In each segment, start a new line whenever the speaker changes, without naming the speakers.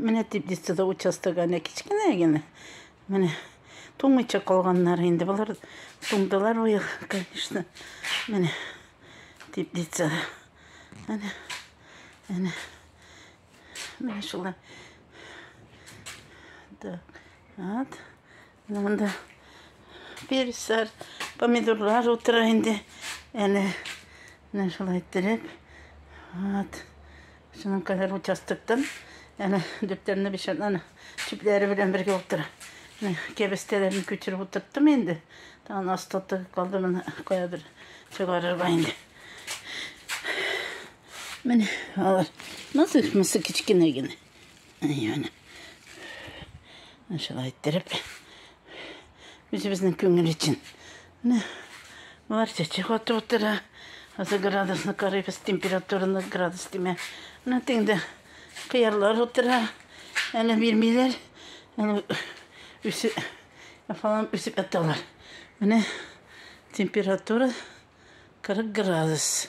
Менә дип дистеда участок әнә кечкенә генә. Менә туңмыйча калганнар инде. Болар туңдылар быел, конечно. Менә дип дистеда. Әнә, әнә. Менә шулай. Так, вот. Монда переслар, помидорлар утыра инде. Әле менә шулай иттереп. Вот. Шуның кадәр участоктан әнә дүртләрне бишән аны чүпләре белән бергә утыра. Менә кәбестәләрне күчереп утырттым инде. Тагын астаты калды моны каядыр чыгарырга инде. Менә алар. Насык-мысы кечкенә генә. Яны. Шулай иттереп. Үзебезнең күңел өчен. Менә болар чәчәк атып утыра. Хәзер градусны карыйбыз, температураны градус димә. Менә теңдә кыярлар утыра. Әле бирмиләр. Әле үсеп фалан үсеп яталар. Менә температура 40 градус.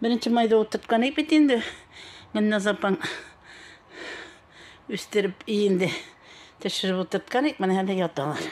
Беренче майда утырткан ибет инде. Гөлназ апаң үстереп иенде. Төшереп утырткан ик, менә әле яталар.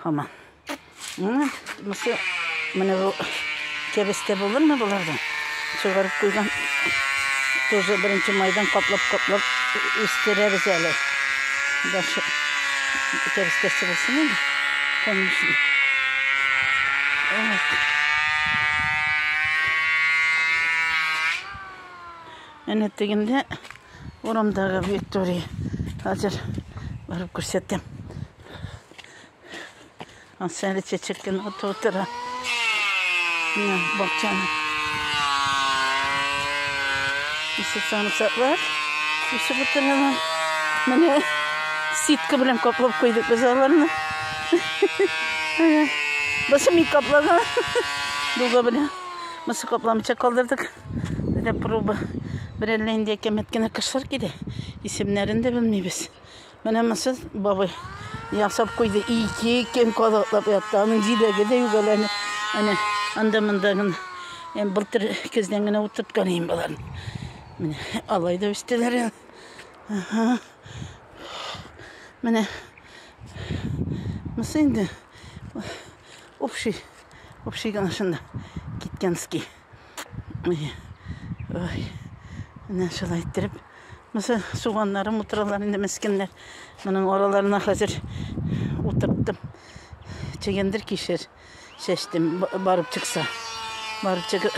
Хаман. Мысы, менә бу кәбестә булырмы боларда? Чыгарып куйган. Тоже беренче майдан каплап-каплап үстерәбез әле. Дашы кәбестәсе булсын инде. Конмышын. Әнә тегендә урамдагы Виктория. Хәзер барып күрсәтәм. Ансәле чәчәк кенә атып утыра. Менә бакчаны. Исе самсаклар үсеп утыралар. Менә ситка белән каплап куйдык без аларны. Башы мик каплага. Дуга белә. Башы капламча калдырдык. Дә проба. Берәллә инде әкәмәт кенә кышлар килә. Исемнәрен дә белмибез. Менә мысы бабай ясап куйды. Ике көн калаклап ятты. Аның җиләге дә югаләне. Әнә анда монда гына. Әм былтыр көздән генә утырып калыйм балар. Менә алай да үстеләр. Ага. Менә Монысы инде общий, общий гына шунда киткәнский. Ой, ой. Менә шулай иттереп. Монысы суганнарым утыралар инде мескеннәр. Моның араларына хәзер утырттым. Чегендер кишер. чәчтем, барып чыкса. Барып чыгып,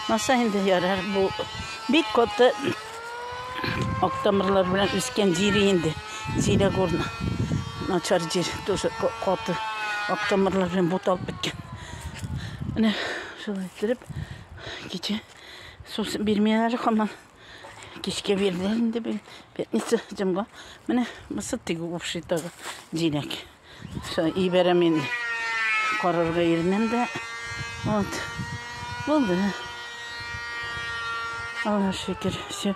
маса инде ярар, бу бик каты октомрлар белән үскән җир инде. Зилә горна. Начар җир, тоже каты октомрлар белән буталып беткән. Менә шулай иттереп, кичә су бирмиләр хаман. Кичкә бирделәр инде бит. Пятница җомга. Менә мысы тигү упшитагы җиләк. Все, ибәрәм инде. Карарга ирнем дә. Вот. Булды. Аллаһ шөкер. Все.